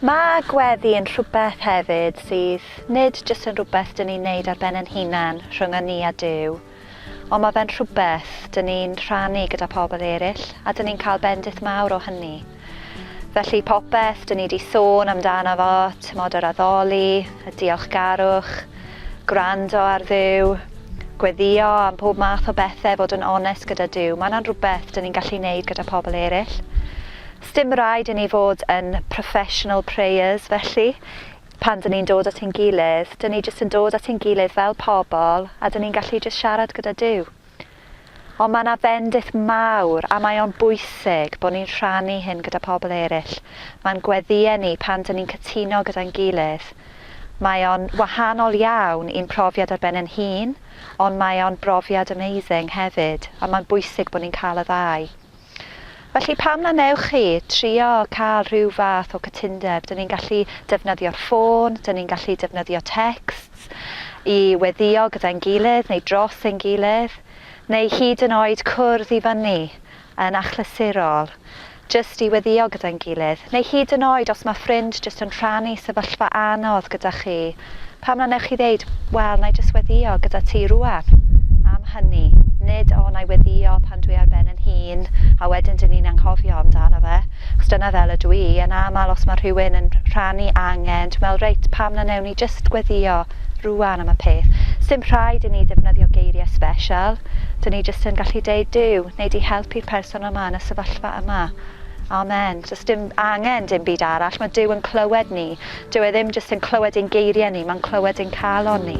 Mae gweddi yn rhywbeth hefyd sydd nid jyst yn rhywbeth dyn ni'n neud ar ben yn hunan rhwng a ni a Dyw, ond mae fe'n rhywbeth dyn ni'n rhannu gyda pobl eraill a dyn ni'n cael bendith mawr o hynny. Felly popeth dyn ni 'di sôn amdano fo, timod yr addoli, y diolchgarwch, gwrando ar Dduw, gweddïo am pob math o bethe, fod yn onest gyda Duw, mae yna'n rhywbeth dyn ni'n gallu neud gyda pobl eraill. Sdim rhaid i ni fod yn professional prayers felly, pan dyn ni'n dod at ein gilydd, dyn ni jyst yn dod at ein gilydd fel pobl a dyn ni'n gallu jyst siarad gyda Duw. Ond mae yna fendith mawr a mae o'n bwysig bod ni'n rhannu hyn gyda pobl eraill. Mae'n gweddïau ni pan dyn ni'n cytuno gyda'n gilydd. Mae o'n wahanol iawn i'n profiad ar ben ein hun, ond mae o'n brofiad amazing hefyd, a mae'n bwysig bod ni'n cael y ddau. Felly pam na wnewch chi trio cael rhyw fath o cytundeb? Dyn ni'n gallu defnyddio'r ffôn, dyn ni'n gallu defnyddio texts i weddïo gyda'n gilydd neu dros ein gilydd, neu hyd yn oed cwrdd i fyny yn achlysurol jyst i weddïo gyda'n gilydd, neu hyd yn oed os mae ffrind jyst yn rhannu sefyllfa anodd gyda chi, Pam na wnewch chi ddeud, 'Wel, na i jyst weddïo gyda ti rŵan am hynny, nid 'O, na i weddïo pan dwi ar ben yn hun, a wedyn dyn ni'n anghofio amdano fe', achos dyna fel ydw i, yn aml os mae rhywun yn rhannu angen, dwi'n meddwl, 'Reit, pam na wnewn ni jyst weddïo rŵan am y peth'. Sdim rhaid i ni ddefnyddio geiriau sbesial, dyn ni jyst yn gallu deud, 'Duw, wnei di helpu'r person yma yn y sefyllfa yma. Amen. Does dim angen dim byd arall, mae Duw yn clywed ni. Dyw e ddim jyst yn clywed ein geiriau ni, mae'n clywed ein calon ni.